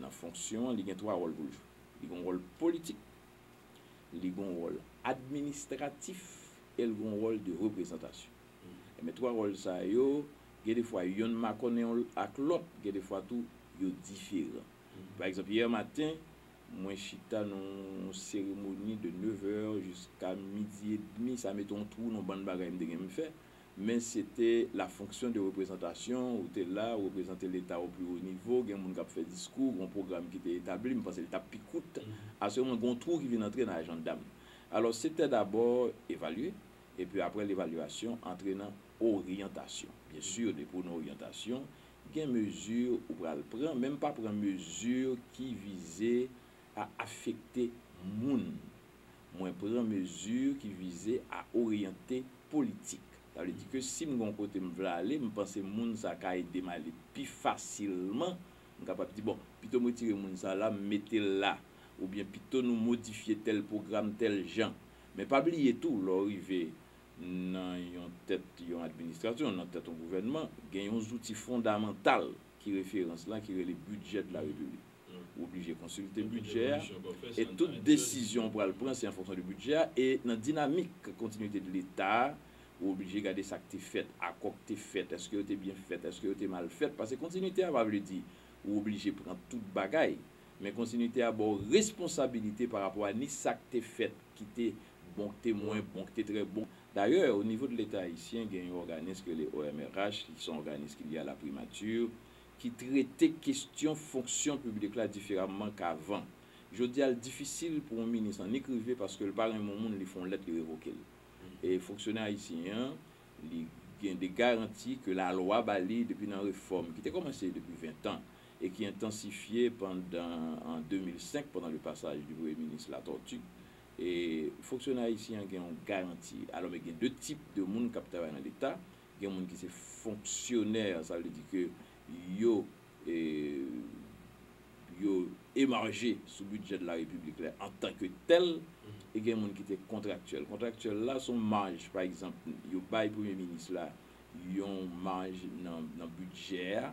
Nan fonksyon an, li gen twa wòl pou l jwe. Li gen yon wòl politik, li gen yon wòl administratif e l gen yon wòl de reprezantasyon. Enben, twa wòl sa yo, gen de fwa yonn makònen yon ak lòt, gen de fwa tou yo diferan. Pa egzanp, yè maten, mwen chita nan yon seremoni de nevè jiska midi edmi, sa mete yon twou nan bann bagay m te gen m fè, Men se te la fonction de représentation, ou te la, ou reprezante Leta au plus haut niveau, gen moun k ap fè diskou, gen yon pwogram ki te etabli, m panse l t ap pi kout, asirèman gen yon twou ki vin antre nan ajanda m. Alò, se te dabò evalye, epi apre levalyasyon, antre nan oryantasyon. Byen sûr, depi ou nan oryantasyon, gen mezi ou pral pran, men m pa pran mezi ki vize a afekte moun. mwen pran mezi ki vize a oryante politik. Sa vle di ke si m gen yon kote m vle ale, m panse moun sa ka ede m ale pi fasilman, m kapab di bon, pito m retire moun sa la, m mete l la, oubyen pito nou modifye tèl pwogram tèl jan. Men pa bliye tou, lè w rive nan yon tèt yon administrasyon, nan tèt yon gouvènman, gen yon zouti fondamantal ki referans lan, ki rele bidjè de la Repiblik. Ou oblije konsilte bidjè a e tout desizyon ou pral pran se an fonksyon de bidjè a e nan dinamik kontinuite de leta a ou oblije gade sa k te fèt, akò k te fèt, èske yo te byen fèt, èske yo te mal fèt pase kontinuite a pa vle di ou oblije pran tout bagay men kontinuite a ba w responsabilite pa rapò a ni sa k te fèt ki te bon, k te mwen bon, k te trè bon. Dayè o nivo de leta ayisyen gen yon òganis ki rele OMRH ki son òganis ki lye a la primati ki trete kestyon fonksyon piblik la diferamman k avan. Jodi a l difisil pou yon minis annik rive paske l pa renmen yon moun li fè yon lèt li revoke l. E fonksyonè ayisyen an li gen de garanti ke lalwa ba li depi nan refòm ki te kòmanse depi ventan e ki entansifye pandan an 2005 pandan le passage du premye minis Latortue. E fonksyonè ayisyen an gen yon garanti. Alò men gen de tip de moun k ap travay nan leta, Gen moun ki se fonksyonè, sa vle di ke yo yo emarje sou bidjè de la Repiblik la antan ke tèl e gen moun ki te kontraktyèl. Kontraktyèl la se yon maj, pa egzanp, yo bay Premye Minis la yon maj nan bidjè a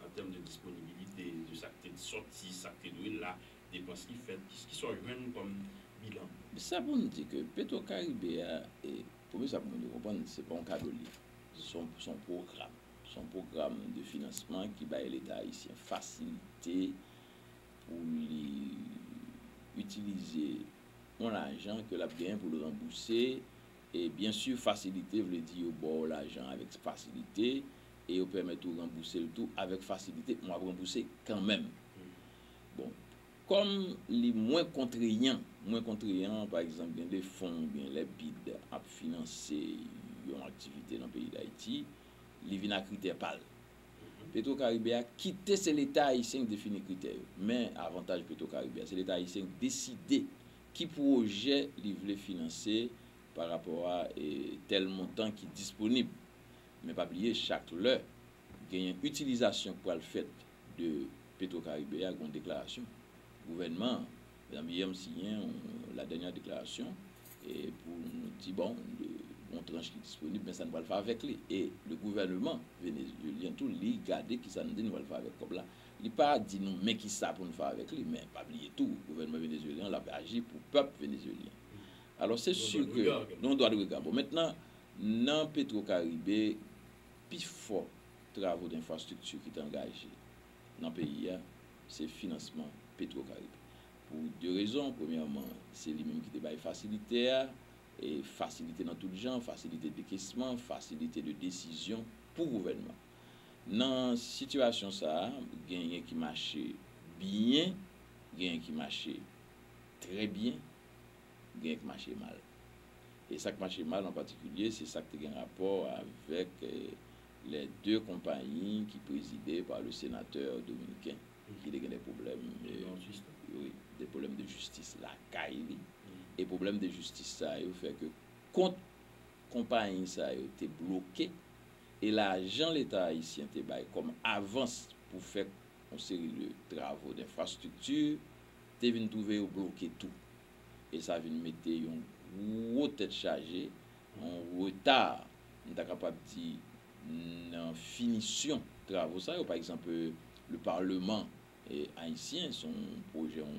an tèm de disponibilite, de sa k te sòti, sa k te dwe la, depans ki fèt, ki sa w jwenn kòm bilan? Sa pou n di ke Petrocaribe a, premye sa pou moun yo konprann, se pa yon kado li ye. Se yon pwogram. Se yon pwogram de finansman ki bay Leta ayisyen fasilite pou li itilize yon lajan ke l ap genyen pou l ranbouse E byen sur fasilite vle di yo baw lajan avek fasilite e yo pèmèt ou ranbousel tou avek fasilite men wap ranbouse kanmenm. Bon kòm li mwen kontreyan, mwen kontreyan pa egzanp gen de fon ou byen lè bid ap finanse yon aktivite nan peyi dayiti li vin a kritè pal. Petro karibe a kite se leta ayisyen ki defini kritè yo men avantaj petro karibe a se leta ayisyen ki deside Ki pwojè li vle finanse pa rapò a tèl montan ki disponib. Men pa bliye chak lè gen yon itilizasyon k pral fèt de Petro Caribe a gon deklarasyon gouvènman an. Mezanmi yè m siyen yon la dènya deklarasyon pou nou di bon gon tranch ki disponib men sa nou pral fè avèk li e le gouvèneman venezyelyen tou li gade kisa nou di nou pral fè avèk kòb la. Li pa di nou men kisa pou nou fè avèk li, men pa bliye tou gouvènman Venezuelyen an lap aji pou pèp Venezuelyen. Alò se sur ke nou dwa de rega. Bon mentnan nan Petro Caribe pi fò travo denfrastrikti ki te angaje nan peyi a se finansman Petro Caribe. Pou de rezon, premyèman se li menm ki te bay fasilite a, fasilite nan tout jan, fasilite dekesman, fasilite de desizyon pou gouvènman. Nan sitiyasyon sa a, genyen ki mache byen, genyen ki mache trè byen, genyen ki mache mal. E sa k mache mal an patikilye, se sa k te gen rapò avèk lè de konpayi ki prezide pa le senatè dominiken ki te gen de pwoblèm, wi, de pwoblèm de jistis lakay li. E pwoblèm de jistis sa yo fè ke kont konpayi sa yo te bloke. e lajan leta ayisyen te bay kòm avans pou fè yon seri de travo denfrastrikti te vin twouve yo bloke tou e sa vin mete yon gwo tèt chaje, yon reta m ta kapab di nan finisyon travo sa yo. Pa egzanp, le parlement haïtien se yon pwojè yon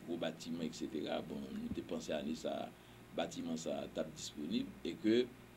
gwo batiman eksetera, bon nou te panse ane sa a batiman sa a t ap disponib e ke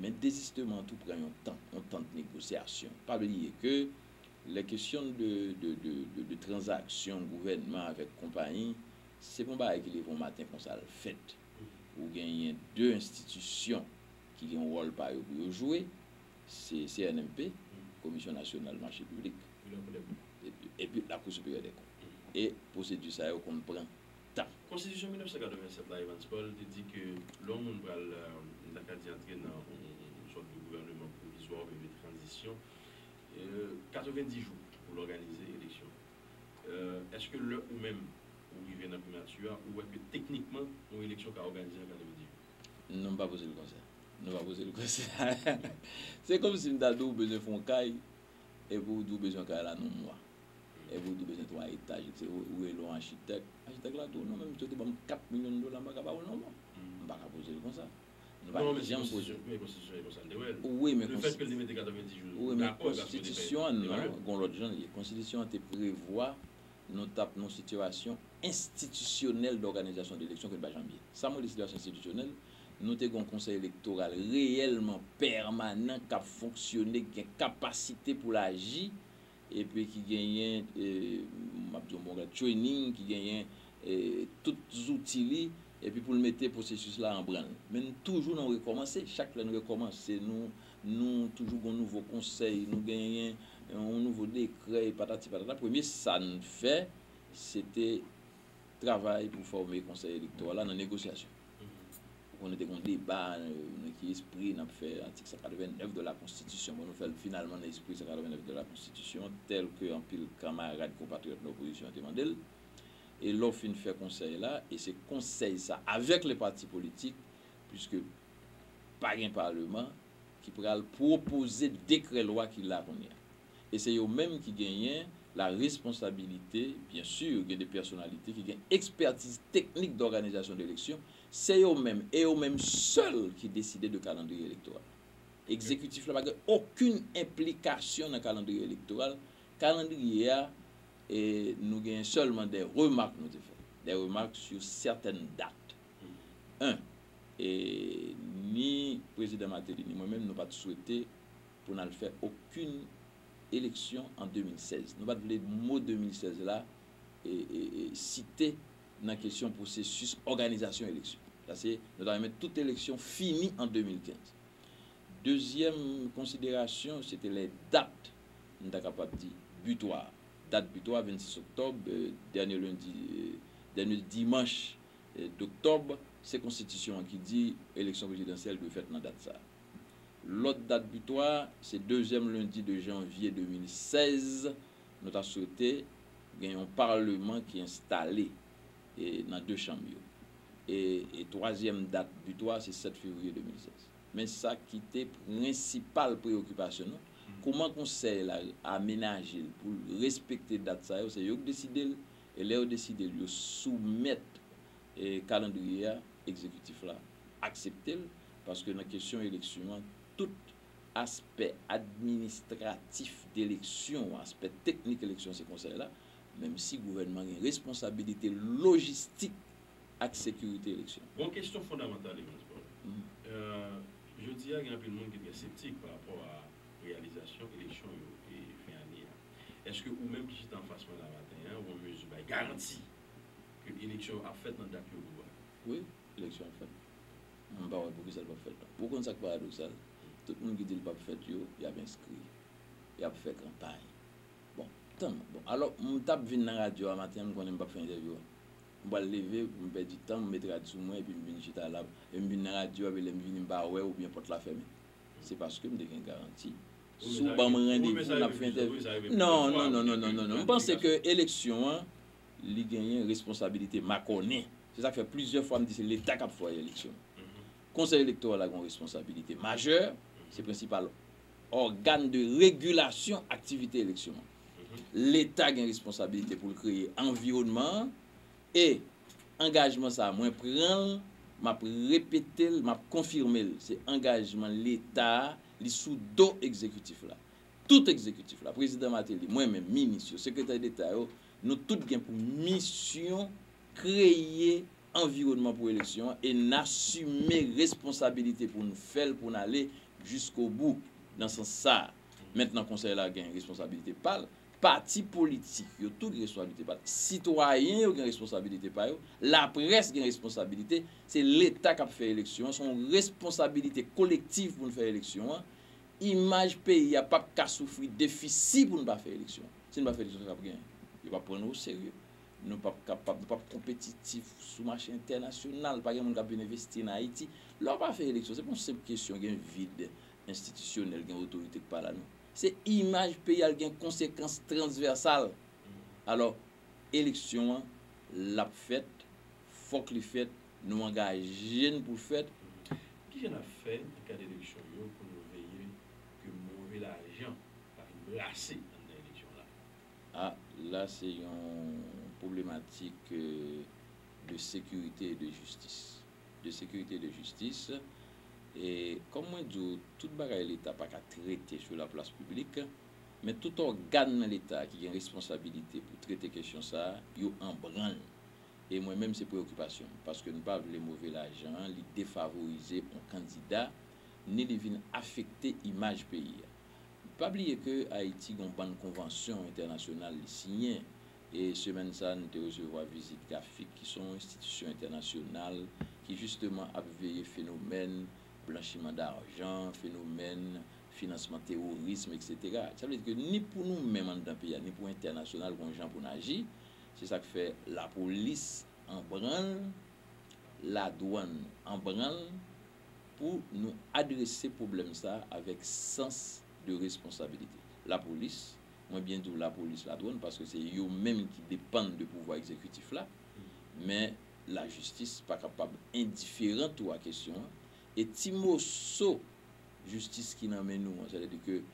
Men dezistement an tou pran yon tan, yon tan de négociation. Pa bliye ke lè kesyon de de transaction gouvènman avèk konpayi, se pa yon bagay ki leve yon maten konsa l fèt. Ou genyen de enstitisyon ki gen yon wòl pa yo pou yo jwe, se CNMP, Komisyon Nasyonal Mache Piblik, epi Lakou Siperyè Dèkont. E pwosedi sa yo konn pran. tan. Konstitisyon 1987 la, Evans Paul, te di ke lè yon moun pral, m ta ka di antre nan yon sòt de gouvèneman pwovizwa oubyen de tranzisyon, 90 jou pou l òganize eleksyon. Èske lè ou menm ou rive nan primati a, ou wè ke teknikman yon eleksyon ka òganize nan 90 jou? Non, m pa poze l konsa. Non, m pa poze l konsa. Se kòmsi m ta di w ou bezwen fè yon kay, epi ou di w bezwen kay la nan yon mwa. Epi ou di bezwen 3 etaj ou se ou rele yon achitèk. Achitèk la di w non menm si w te ban m 4 milyon dola m pa ka ba w l non bon. M pa ka poze l konsa. M pa janm poze l. Men konstitisyon an e konsa l te wè l. Wi men konstitisyon. Lefèt ke l te mete 90 jou. Wi men konstitisyon an non gen yon lòt jan l ye. Konstitisyon an te prevwa nou t ap nan yon sitirasyon enstitisyonèl dòganizasyon de eleksyon ke l pa janm ye. Sa mwen rele sitirasyon enstitisyonèl, nou te gen yon konsèy elektoral reyèlman pèmanan k ap fonksyone, k gen kapasite pou l aji epi ki genyen m ap di yon bon bagay training ki genyen tout zouti li epi pou l mete pwosesis la an branl men nou toujou nan rekòmanse chak lè n rekòmanse nou nou toujou gen yon nouvo konsèy nou genyen yon nouvo dekrè e patati patata premye sa n fè se te travay pou fòme konsèy elektoral la nan negosyasyon. Ou konnen te gon deba nan ki espri nap fè atik 189 de la konstitisyon. Bon nou fè l finalman nan espri 189 de la konstitisyon tèl ke anpil kanmarad konpatriyòt nan opozisyon an te mande l. E lè w fin fè konsèy la, e se konsèy sa avèk le pati politik, puiske pa gen paleman, ki pral pwopoze dekrè lwa ki la kounye a. e se yo menm ki genyen la responsabilite, byen sur gen de pèsonalite ki gen ekspètiz teknik dòganizasyon de eleksyon, se yo menm e yo menm sèl ki deside de kalandriye elektoral. Ekzekitif la pa gen okenn enplikasyon nan kalandriye elektoral, kalandriye a e nou genyen sèlman de remak nou te fè, de remak sur sètèn dat. En, e ni Prezidan Martelly ni mwen menm nou pa t swete pou n al fè okin eleksyon an 2016. Nou pa t vle mo 2016 la site nan kesyon pwosesis òganizasyon eleksyon. Sa se, nou ta renmen tout eleksyon fini an 2015. Dezyèm konsiderasyon, se te lè dat, m ta kapab di, bitwa a. Dat bitwa, 26 oktòb, dènye lendi, dènye dimanch doktòb, se konstitisyon an ki di eleksyon prezidansyèl dwe fèt nan dat sa a. Lòt dat bitwa a, se dezyèm lendi 2 janvye 2016. Nou ta swete gen yon Paleman ki enstale nan 2 chanm yo. E twazyèm dat bitwa a, se 7 fevriye 2016. Men sa ki te prensipal preyokipasyon nou, kouman Konsèy la amenaje l pou l respekte dat sa yo, se yo k deside l, e lè yo deside l, yo soumèt Kalandriye a, Egzekitif la aksepte l, paske nan kesyon eleksyon an, tout aspè administratif d'eleksyon, aspè teknik eleksyon se Konsèy la, menm si gouvènman gen responsabilite lojistik ak sekirite eleksyon. Bon, kesyon fondamantal Evans Paul, jodi a gen anpil moun ki trè septik pa rapò a reyalizasyon eleksyon yo fen ane a. Eske ou menm ki chita anfas mwen la maten an ou an mezi bay garanti Ke eleksyon ap fèt nan dat yo dou a. Wi, eleksyon ap fèt. Mwen pa wè poukisa l pap fèt la. Ou konn sa k paradoksal? Tout moun ki di l pap fèt yo, y ap enskri. Y ap fè kanpay. Bon, tanm. Bon, alò, m t ap vin nan radyo a maten an, m konnen m pap fè entèvyou a. M pral leve pou m pèdi tan, m met rad sou mwen epi m vin chita la. Epi m vin nan radyo a epi lè m vini m pa wè oubyen pòt la fèmen. Se paske m te gen garanti. Si w ban m randevou, n ap fè entèvyou. Non, non, non, non, non, non, non. M panse ke eleksyon an, Li genyen responsabilite makònen. Se sa k fè plizyè fwa m di se Leta k ap fè eleksyon. Konsèy elektoral la gen yon responsabilite majè, se prensipal ògàn de regilasyon aktivite eleksyon an. Leta gen responsabilite pou l kreye anviwònman an e angajman sa a mwen pran l, m ap repete l, m ap konfime l, se angajman Leta a, li sou do egzekitif la. Tout egzekitif la, Prezidan Martelly, mwen menm, minis yo, sekretè deta yo, Nou tout gen pou misyon kreye anviwònman pou eleksyon an e n asime responsabilite pou n fè l, pou n ale jiskobou nan sans sa a. Mentnan Konsèy la gen responsabilite pa l, pati politik yo tou gen responsabilite pa l, sitwayen yo gen responsabilite pa yo, laprès gen responsabilite, se Leta k ap fè eleksyon an, se yon responsabilite kolektiv pou n fè eleksyon an Imaj peyi a pap ka soufri defisi pou n pa fè eleksyon. Si n pa fè eleksyon sa k ap gen? Yo pap pran nou oserye. Nou pap kapab, nou pap konpetitif sou mache entènasyonal. Pa gen moun k ap vin envesti nan Ayiti. Lè w pa fè eleksyon, se pa yon senp kesyon gen vid enstitisyonèl, gen otorite k pa la non. Se imaj peyi a, l gen konsekans transvèsal. Alò, eleksyon an, l ap fèt, fòk li fèt, nou angaje n pou fèt. Ki jan n ap fè gad eleksyon yo pou nou veye ke move lajan pa vin brase anndan eleksyon la? A la se yon pwoblematik de sekirite e de jistis. De sekirite e de jistis. E kòm mwen di w, tout bagay Leta pa ka trete sou laplas piblik, men tout ògàn nan Leta ki gen responsabilite pou trete kesyon sa a, yo anbranl. e mwen menm se preyokipasyon m, paske n pa vle move lajan an li defavorize on kandida, ni li vin afekte imaj peyi a. Pa bliye ke Ayiti gen on bann konvansyon entènasyonal li siyen, e semèn sa n te resevwa vizit GAFIC ki son enstitisyon entènasyonal ki jisteman ap veye fenomèn blanchiman darjan, fenomèn finansman teworism eksetera. Sa vle di ke ni pou nou menm anndan peyi a, ni pou entènasyonal gen on jan pou n aji, Se sa k fè lapolis an branl, ladwann an branl pou nou adrese pwoblèm sa a avèk sans de responsabilite. Lapolis, mwen byen di w lapolis, ladwann paske se yo menm ki depann de pouvwa egzekitif la, men lajistis pa kapab endiferan tou a kesyon an e ti moso jistis ki nan men nou an, sètadi ke.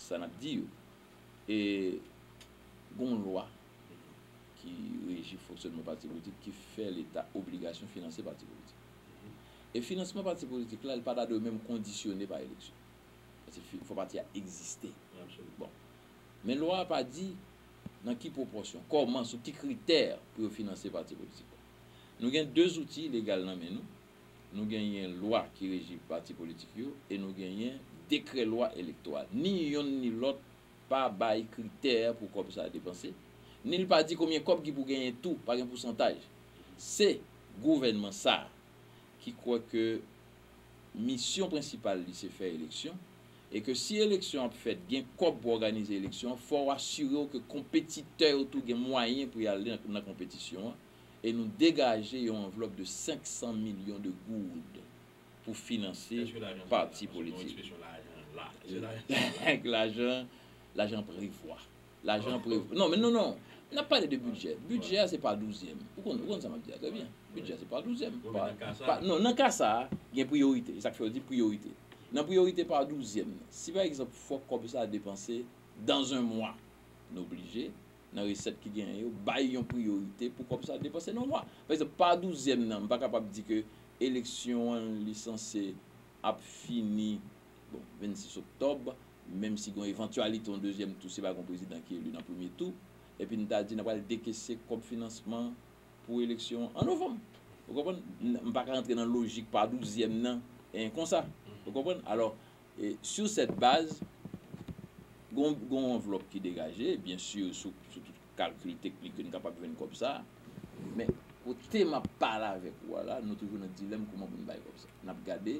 sa nap di yo. E gen yon lwa ki reji fonksyònman pati politik ki fè leta obligasyon finanse pati politik. E finansman pati politik la li pa ta dwe menm kondisyone pa eleksyon. Paske il fò pati a egziste. Bon. Men lwa a pa di nan ki pwopòsyon, kòman, sou ki kritè pou yo finanse pati politik la. Nou gen 2 zouti legal nan men nou. Nou genyen lwa ki reji pati politik yo e nou genyen dekrè lwa elektoral. Ni yonn ni lòt pa bay kritè pou kòb sa depanse, ni l pa di konbyen kòb ki pou genyen tou, pa gen pousantaj. Se gouvènman sa a ki kwè ke misyon prensipal li se fè eleksyon e ke si eleksyon ap fèt gen kòb pou òganize eleksyon an, fò w asire w ke konpetitè yo tou gen mwayen pou y ale nan konpetisyon an. e nou degaje yon anvlòp de 500 milyon de goud pou finanse pati politik. Lajan, lajan prevwa. Lajan prevwa. Non, men non, non. N ap pale de bidjè. Bidjè a se pa douzyèm. Ou konn, ou konn sa m ap di a trè byen. Bidjè a se pa douzyèm. Bon, men nan ka sa a. Non, nan ka sa a, gen priyorite. E sa k fè yo di priyorite. Nan priyorite pa douzyèm nan, si pa egzanp fòk kòb sa a depanse dan zen mwa, nou blije. nan resèt ki genyen yo, bay yon priyorite pou kòb sa depanse nan lwa. Pa egzanp, pa douzyèm nan, m pa kapab di ke eleksyon an li sanse ap fini, bon, 26 oktòb, menm si gen yon evantyalite yon dezyèm tou si pa gen yon prezidan ki eli nan premye tou, epi n ta di n ap pral dekese kòb finansman pou eleksyon an an novanm. Ou konprann? M pa ka rantre nan lojik pa douzyèm nan konsa. Ou konprann? Alò, E sur cette base, gon gon anvlòp ki degaje, byen sur sou sou tout kalkil teknik yo n kapab jwenn kòb sa a. Men, kote m ap pale avèk ou a la, nou toujou nan dilèm kouman pou n bay kòb sa a. N ap gade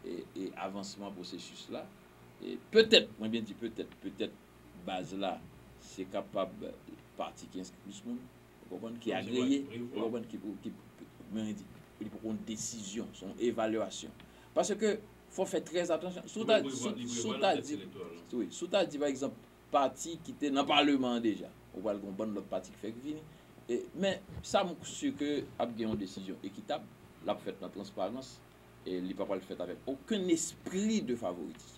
e e avansman pwosesis la. E petèt, mwen byen di petèt, petèt baz la se kapab pati ki enskri plis moun, ou konprann, ki agreye, ou konprann, ki pou ki pou, mwen di, li poko yon desizyon, se yon evalyasyon. Paske Fò fè trè atansyon. Si w ta di, si w ta di, wi, si w ta di pa egzanp pati ki te nan paleman an deja, ou pral gen yon bann lòt pati ki fèk vini. Men, sa m si ke ap gen yon desizyon ekitab, l ap fèt nan transparans, li pa pral fèt avèk okenn espri de favoritism.